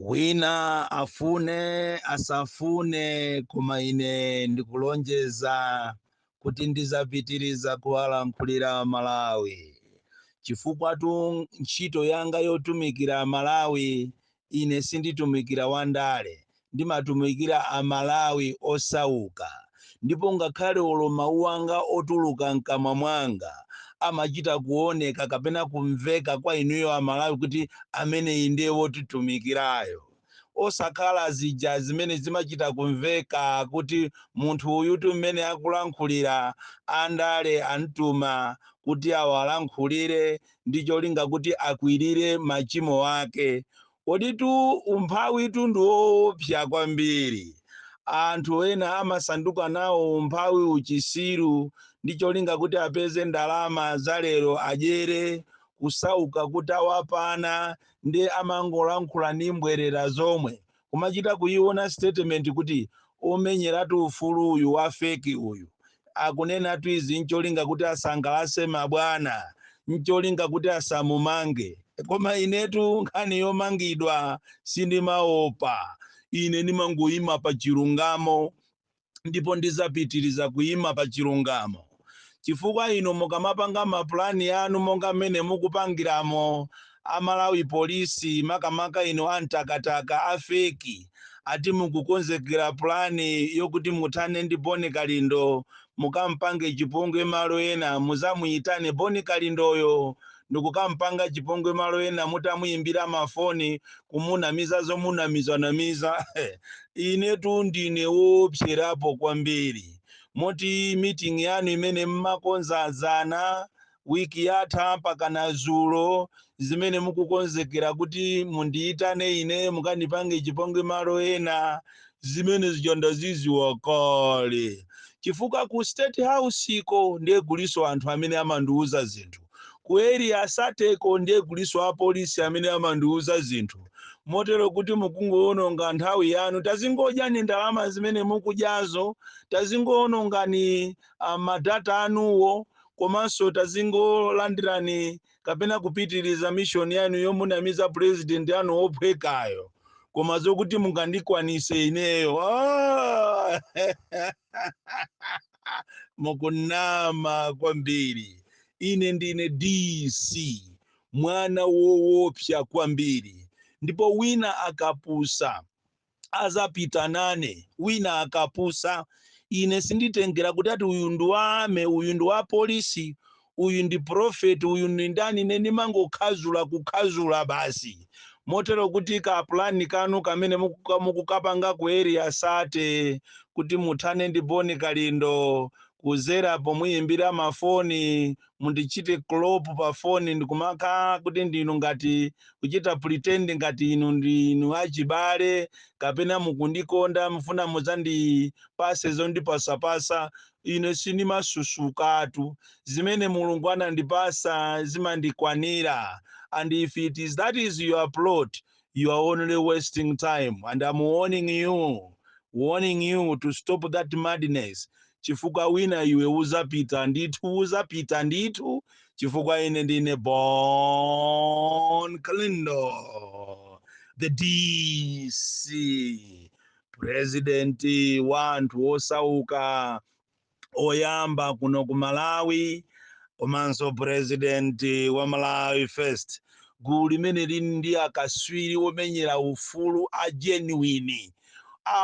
wina afune asafune koma ine ndikulonjeza kuti ndizapitiriza kuwalankhulira malawi chifukwatu ntchito yanga yotumikira malawi ine sinditumikira wandale ndimatumikira a Malawi osauka ndipo ngakhale olo mawu anga otuluka mkamwa mwanga amachita kuoneka kapena kumveka kwa inuyo a Malawi kuti ameneyi ndiye wotitumikirayo osakhala zija zimene zimachita kumveka kuti munthu uyutu mmene akulankhulira andale amtuma kuti awalankhulire ndi cholinga kuti akwirire machimo ake Koditu umphawitu ndi woopsa kwambiri. Anthu ena amasanduka nawo umphawi uchisiru ndi cholinga kuti apeze ndalama za lero adyere, kusauka kukawapana nde amangolankhula ndi mbwerera zomwe, kumachita kuyiona statement kuti omenyeratu ufulu uyu wa fake uyu akunenatu izi ncholinga kuti asangalase mabwana ncholinga kuti asamumange koma inetu nkhani yomangidwa sindimaopa ine ndimangoyima pa chilungamo ndipo ndizapitiriza kuyima pa chilungamo. chifukwa inu mukamapanga ma plan anu monga mmene mukupangiramo a Malawi Police makamaka inu a mtakataka a feki ati mukukonzekera plan yokuti muthane ndi Boni Kalindo mukampange chipongwe malo ena muzamuyitane Boni Kalindoyo ndikukampanga chipongwe malo ena mutamuyimbira mafoni kumunamiza zomunamizanamiza inetu ndine woopserapo kwambiri moti meeting yanu imene mmakonza azana wiki yatha mpaka na zulo zimene mukukonzekera kuti mundiyitane ine mukandipange chipongwe malo ena zimene zija ndaziziwa kale chifukwa ku state house iko ndiye kuliso anthu amene amandiuza zinthu ku area 30 ko ndiye kuliso apolisi amene amandiuza zinthu motero kuti mukungowononga nthawi yanu tazingodyani ndalama zimene mukudyazo tazingowonongani ah, madata anuwo komanso tazingolandirani kapena kupitiriza mishoni yanu yomunamiza purezidenti anu wophwekayo koma zokuti mungandikwanise ineyo ah! mukunama kwambiri ine ndine dc mwana wowopsa kwambiri ndipo wina akapusa azapita nane wina akapusa ine sinditengera kuti ati uyu ndi wa army uyu ndi wa polisi uyu ndi pulofeti, uyu ndi ndani, ine ndimangokhazula, kukhazula basi, motero kuti ka plan kanu kamene mukuka- mukukapanga ku Area 30 kuti muthane ndi Bon Kalindo kuzera pomuyimbira mafoni mundichite clop pa foni ndikumakhala kuti ndinu ngati kuchita pretend ngati inu ndinu achibale kapena mukundikonda mufuna mudzandipase zondipasapasa Ine sindimasusukatu, zimene Mulungu anandipasa zimandikwanira and if it is that is your plot you are only wasting time and am warning you warning you to stop that madness chifukwa wina iwe uzapita ndithu uzapita ndithu chifukwa ine ndine Bon Kalindo the DC purezidenti wa anthu osauka oyamba kuno ku malawi komanso purezidenti wa malawi first gulu limene lili ndi akaswiri omenyera ufulu a genuine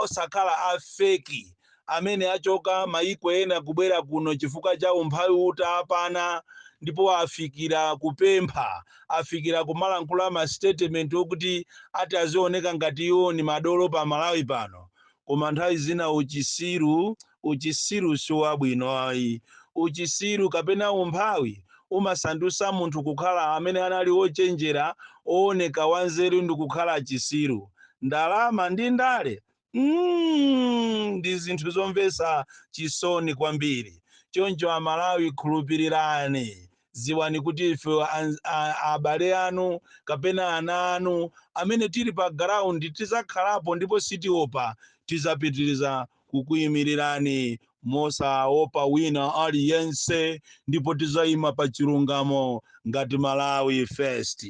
osakhala a feki amene achoka mayiko ena kubwera kuno chifukwa cha umphawi utawapana ndipo afikira kupempha afikira kumalankhula ma statement okuti ati azioneka ngati iwo ni madolo pa Malawi pano koma nthawi zina uchisiru uchisiru siwabwino ayi uchisiru kapena umphawi umasandusa munthu kukhala amene anali ochenjera ooneka wanzeru ndikukhala chisiru ndalama ndi ndale mm, ndi zinthu zomvetsa chisoni kwambiri choncho amalawi khulupirirani ziwani kuti ife an- a- abale anu kapena ana anu amene tili pa ground tizakhalapo ndipo sitiopa tizapitiriza kukuyimirirani mosaopa wina aliyense ndipo tizayima pa chilungamo ngati malawi first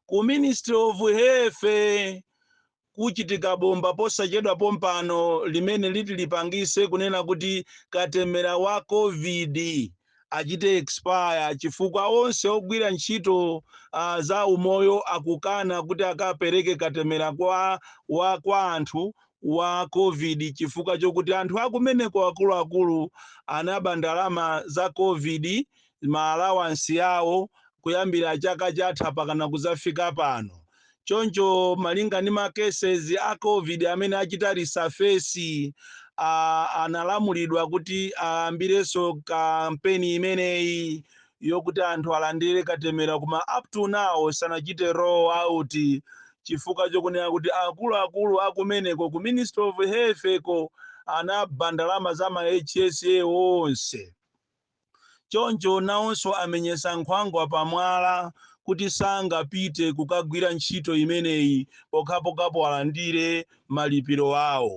ku ministry of health kuchitika bomba posachedwa pompano limene liti lipangise kunena kuti katemera wa Covid achite expire chifukwa onse ogwira ntchito za umoyo akukana kuti akapereke katemera kwa anthu wa Covid chifukwa chokuti anthu akumeneko akuluakulu anaba ndalama za Covid ma allowance awo kuyambira chaka chatha pakana kuzafika pano. Choncho malinga ndi ma cases a covid amene achita resurface analamulidwa kuti ayambirenso kampeni imeneyi yokuti anthu alandire katemera koma up to now sanachite roll out chifukwa chokunena kuti akuluakulu akumeneko ku Ministry of Health ko anaba ndalama za ma HSA onse. Choncho nawonso amenyetsa nkhwangwa pamwala kuti sangapite kukagwira ntchito imeneyi pokhapokhapo alandire malipiro awo.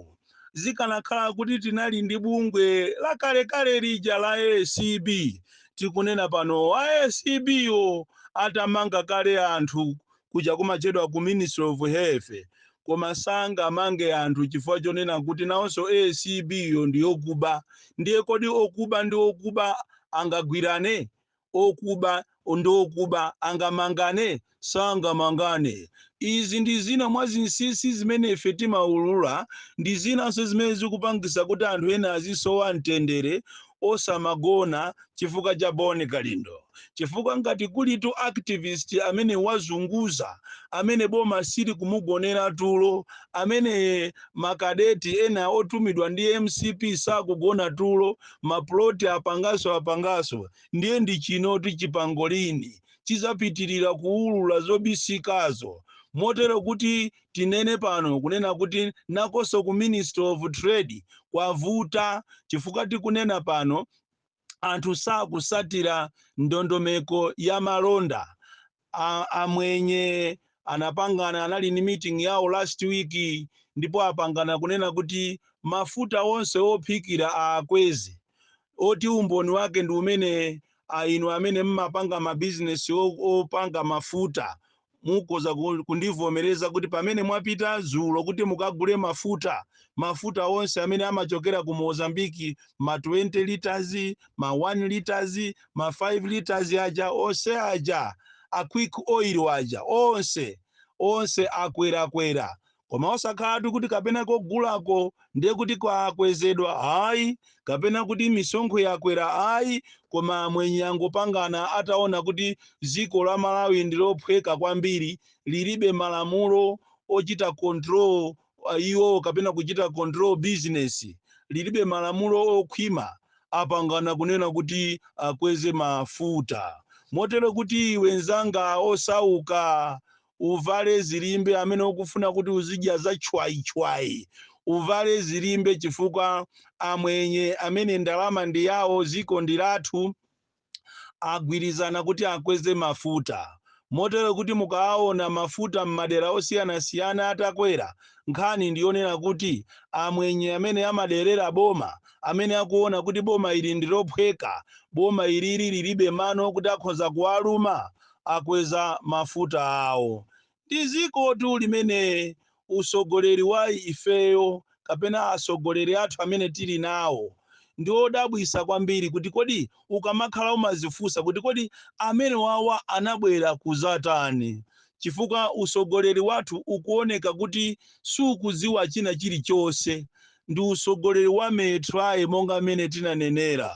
Zikanakhala kuti tinali ndi bungwe lakalekale lija la acb, tikunena panowo a acb yo atamanga kale anthu kuja kumachedwa ku ministry of health koma sangamange anthu chifukwa chonena kuti nawonso acb yo ndi yokuba ndiye kodi okuba ndi okuba angagwirane okuba ndi okuba angamangane sangamangane izi ndi zina mwa zinsinsi zimene ife timaulula ndi zinanso zimene zikupangisa kuti anthu ena azisowa mtendere osamagona chifukwa cha bon kalindo chifukwa ngati kulitu activist amene wazunguza amene boma sili kumugonera tulo amene makadeti ena otumidwa ndi mcp sakugona tulo maploti apangaso apangaso ndiye ndi chinoti chipangolini chizapitirira kuulula zobisikazo motero kuti Tinene pano kunena kuti nakonso ku ministry of trade kwavuta chifukwa tikunena pano anthu sakusatira ndondomeko ya malonda amwenye anapangana anali ni meeting yawo last week ndipo apangana kunena kuti mafuta onse ophikira aakweze oti umboni wake ndi umene a inu amene mmapanga mabizinesi opanga mafuta mukhoza kundivomereza kuti pamene mwapita dzulo kuti mukagule mafuta mafuta onse amene amachokera ku mozambiki ma 20 liters ma 1 liters ma 5 liters aja onse aja a quick oil aja onse onse akwerakwera koma osakhalatu kuti kapena kogulako ndiye kuti kwakwezedwa ayi kapena kuti misonkho yakwera ayi koma amwenye angopangana ataona kuti dziko la malawi ndi lophweka kwambiri lilibe malamulo ochita control uh, iwo kapena kuchita control business lilibe malamulo okhwima apangana kunena kuti akweze mafuta motero kuti iwe nzanga osauka uvale zilimbe amene ukufuna kuti uzidya za chwayi-chwayi, uvale zilimbe chifukwa amwenye amene ndalama ndi yawo ziko ndi lathu agwirizana kuti akweze mafuta. Motero kuti mukawaona mafuta m'madera osiyana-siyana atakwera, nkhani ndi yonena kuti amwenye amene amaderera boma, amene akuona kuti boma ili ndi lophweka, boma ilili lilibe mano kuti akhoza kuwaluma, akweza mafuta awo. Ndi zikotu limene usogoleri wa ifeyo kapena asogoleri athu amene tili nawo ndi odabwisa kwambiri kuti kodi ukamakhala umazifunsa kuti kodi amene wawa anabwera kuzatani chifukwa usogoleri wathu ukuoneka kuti sukuziwa china chilichonse ndi utsogoleri wa Meetrae monga m'mene tinanenera.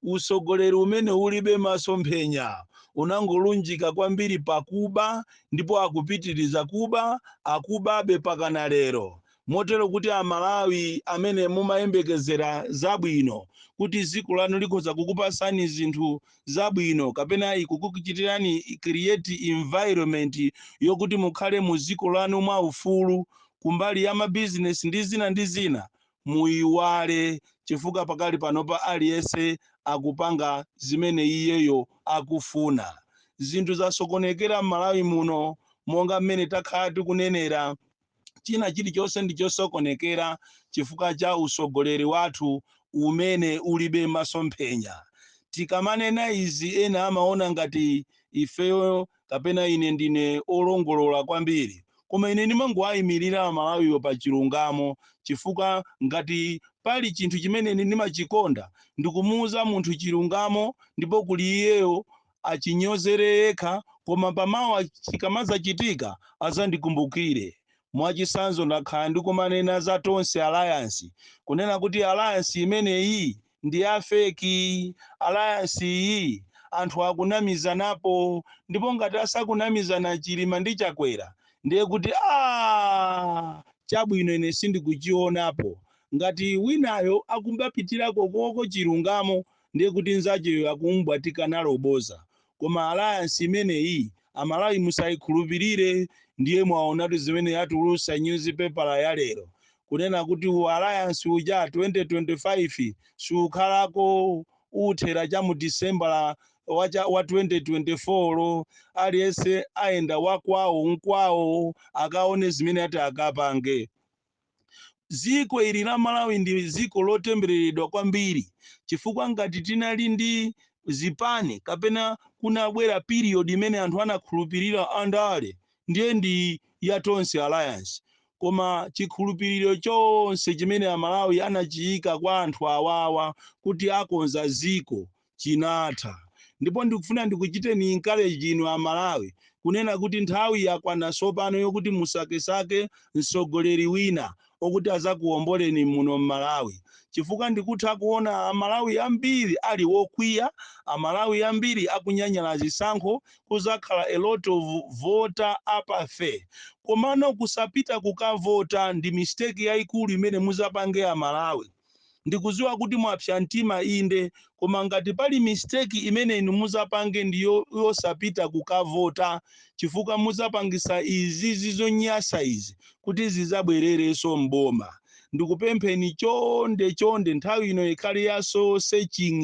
Utsogoleri umene ulibe masomphenya unangolunjika kwambiri pa kuba ndipo akupitiriza kuba, akubabe mpakana lero. Motero kuti a Malawi amene mumayembekezera zabwino kuti dziko lanu likhoza kukupatsani zinthu zabwino kapena kukuchitirani create environment yokuti mukhale mu dziko lanu mwa ufulu kumbali ya ma business ndi zina ndi zina muiwale chifukwa pakali panopa aliyense akupanga zimene iyeyo akufuna zinthu zasokonekera m'Malawi muno monga mmene takhala tikunenera china chilichonse ndi chosokonekera chifukwa cha usogoleri wathu umene ulibe masomphenya tikamanena izi ena amaona ngati ifeyo kapena ine ndine olongolola kwambiri koma ine ndimangowayimirira Amalawiwo pa chilungamo chifukwa ngati pali chinthu chimene ndimachikonda ndikumuuza munthu chilungamo ndipo zili kwa iyeyo achinyozere yekha koma pamawa chikamadzachitika adzandikumbukire. Mwachitsanzo ndakhala ndikumanena za Tonse Alliance kunena kuti alliance imeneyi ndi ya fake, alliance iyi anthu akunamizanapo ndipo ngati asakunamizana Chilima ndi Chakwera ndiye kuti aah chabwinocho ine sindikuchionapo. Ngati winayo akumbapitira kokoko chilungamo ndiye kuti nzacheyo akumubwatika nalo bodza koma alliance imeneyi Amalawi musaikhulupirire ndiye mwaonatu zimene yatulusa nyuzipepala ya lero kunena kuti u alliance uja 2025 siukhalako uthera cha mu disembala wa 2024 aliyense ayenda wakwawo nkwawo akaone zimene ati akapange Dziko ili la Malawi ndi dziko lotembereredwa kwambiri chifukwa ngati tinali ndi zipani kapena kunabwera period imene anthu anakhulupirira andale ndiye ndi ya Tonse Alliance koma chikhulupiriro chonse chimene Amalawi anachiika kwa anthu awawa kuti akonza dziko chinatha. Ndipo ndikufuna ndikuchiteni encourage inu a Malawi kunena kuti nthawi yakwana tsopano yokuti musakesake mtsogoleri wina okuti azakuomboleni muno m'Malawi. Chifukwa ndikutha kuona a Malawi ambiri ali okwiya, a Malawi ambiri akunyanyala zisankho, kuzakhala a lot of voter apathy. Komano kusapita kukavota ndi mistake yaikulu imene muzapange a Malawi. Ndikuziwa kuti mwapsa mtima inde koma ngati pali mistake imene inu muzapange ndi yosapita kukavota chifukwa muzapangisa izi zizonyasa izi kuti zizabwerereso m'boma. Ndikupempheni chonde chonde nthawi ino ikhale ya soul searching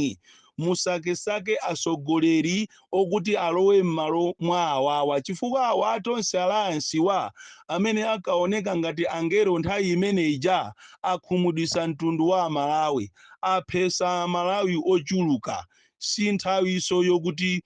musakesake atsogoleri okuti alowe m'malo mwa awawa chifukwa awa a Tonse Alliance wa amene ankaoneka ngati angelo nthawi imene ija akhumudwitsa mtundu wa Amalawi, aphetsa Amalawi ochuluka. Si nthawinso yokuti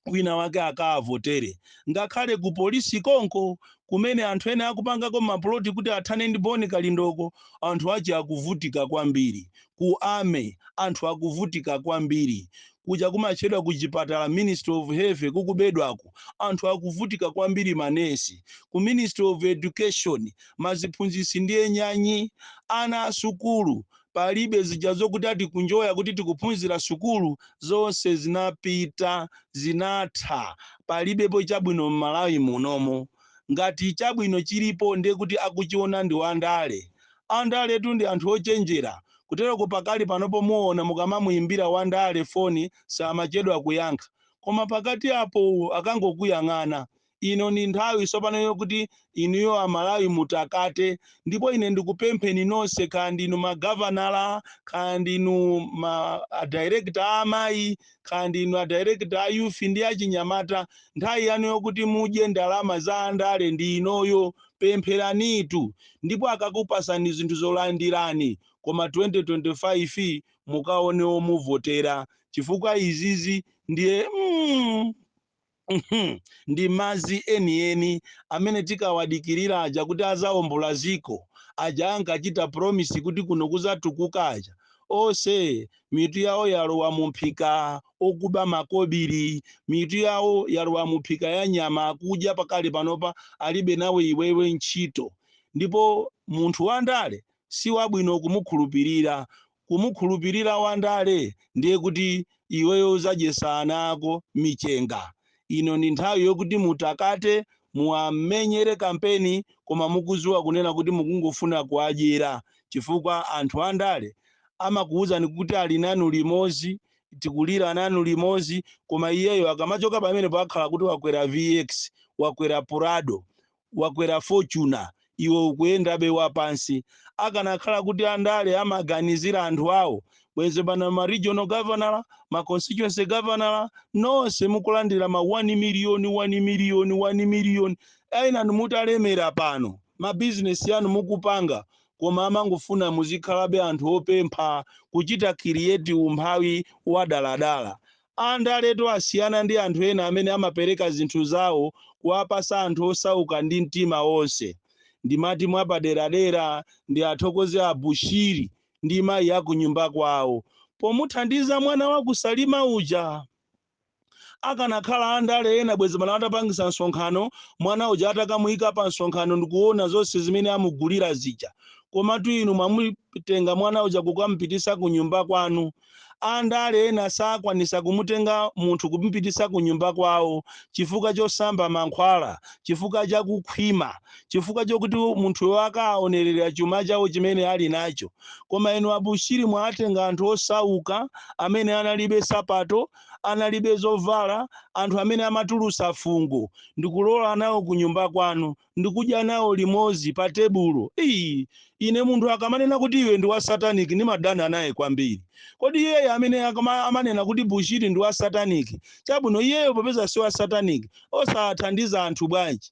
wina wake akavotere ngakhale ku polisi konko kumene anthu ena akupangako mapuloti kuti athane ndi boni kalindoko anthu ache akuvutika kwambiri ku army anthu akuvutika kwambiri kuja kumatchedwa ku chipatala ministry of health kukubedwako anthu akuvutika kwambiri manesi ku ministry of education maziphunzitsi ndiye nyanyi ana asukulu palibe zija zokuti ati kunjoya kuti tikuphunzira sukulu zonse zinapita zinatha palibepo chabwino m'malawi munomo ngati chabwino chilipo ndiye kuti akuchiona ndi wandale andaletu ndi anthu ochenjera kutereko pakali panopo muona mukamamuyimbira wandale foni samachedwa kuyankha koma pakati apo akangokuyang'ana ino ndi nthawi tsopano yokuti inuyo amalawi mutakate ndipo ine ndikupempheni nonse kaya ndinu magavanala kaya ndinu ma adirekta a amayi kaya ndinu adirekta a youth ndi achinyamata nthawi yanu yokuti mudye ndalama za andale ndi inoyo pempheranitu ndipo akakupasani zinthu zolandirani koma 2025 mukaone omuvotera chifukwa izizi ndiye mm, Uhmm ndi mazi enieni amene tinkawadikilira aja kuti azaombola ziko aja ankachita promise kuti kuno kuzatukuka aja onse mitu yawo yalowa mumphika okuba makobili mitu yawo yalowa mumphika ya nyama akudya pakali panopa alibe nawe iwewe ntchito ndipo munthu wandale siwabwino kumukhulupilira Kumukhulupirira Wandale ndiye kuti iweyo uzadyesa ana ako michenga. Ino ndi nthawi yokuti mutakate muwamenyere kampeni koma mukuziwa kunena kuti mukungofuna kuwadyera chifukwa anthu andale amakuwuzani kuti ali nanu limozi tikulira nanu limozi koma iyeyo akamachoka pamenepo akhala kuti wakwera vx, wakwera prado, wakwera fortuner iwe ukuyendabe wapansi. akanakhala kuti andale amaganizira anthu awo bwenzi pano ma regional governor ma constituency governor nonse mukulandira ma 1 million 1 million 1 million enanu mutalemera pano ma business anu mukupanga koma amangofuna muzikhalabe anthu opempha kuchita create umphawi wadaladala Andaletu asiyana ndi anthu ena amene amapereka zinthu zawo kuwapasa anthu osauka ndi mtima onse. Ndimati mwapaderadera ndiathokoze a Bushiri ndi mayi a kunyumba kwawo pomuthandiza mwana wa ku Salima uja. Akanakhala andale ena bwezi pano atapangisa msonkhano mwana uja atakamuika pa msonkhano ndikuona zonse zimene amugulira zija. Komatu inu mwamutenga mwana uja kukamupitisa kunyumba kwanu. Andale ena sakwanisa kumutenga munthu kumupitisa kunyumba kwawo chifukwa chosamba mankhwala, chifukwa cha kukhwima, chifukwa chokuti munthuyo akawaonerera chuma chawo chimene ali nacho. Koma inu a Bushiri mwawatenga anthu osauka amene analibe sapato, analibe zovala, anthu amene amatulusa fungo ndikulowa nawo kunyumba kwanu. ndikudya nawo limodzi pa tebulo. Iii, ine munthu akamanena kuti iwe ndi wa satanic ndimadana naye kwambiri. Kodi iyeyo amene amanena kuti Bushiri ndi wa satanic, chabwino iyeyo popeza si wa satanic, osathandiza anthu bwanji?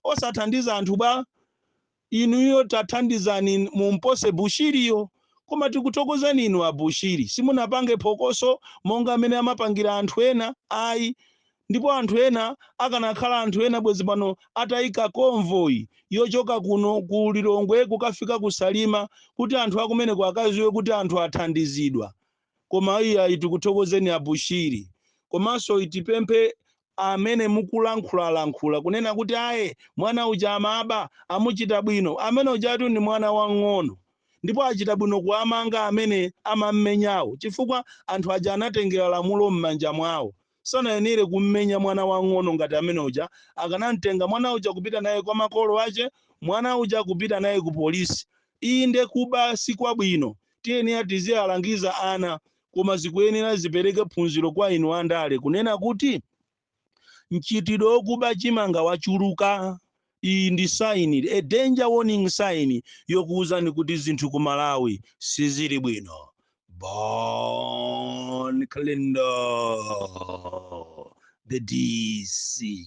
Osathandiza anthu bwa? inuyo tathandizani mumpose bushiriyo koma tikuthokozani inu abushiri simunapange phokoso monga amene amapangira anthu ena ayi Ndipo anthu ena, akanakhala anthu ena bwezi pano ataika convoy yochoka kuno ku Lilongwe kukafika ku Salima kuti anthu akumeneko akaziwe kuti anthu athandizidwa koma iyayi tikuthokozeni a Bushiri komanso tipemphe amene mukulankhulalankhula kunena kuti aye mwana uja amaba amuchita bwino amene ujatu ndi mwana wang'ono ndipo achita bwino kuwamanga amene amammenyawo chifukwa anthu aja anatengera lamulo mmanja mwawo Sanayenere kummenya mwana wamng'ono ngati amene uja. Akanamtenga mwana uja kupita naye kwa makolo ache, mwana uja kupita naye ku police. Inde kuba sikwabwino. Tiyenera tizialangiza ana. Koma zikuyenera zipereke phunziro kwa inu andale kunena kuti mchitidwe okuba chimanga wachuluka. Iyi ndi sign, a danger warning sign, yokuuzani kuti zinthu ku Malawi sizili bwino. Bon Kalindo, the DC.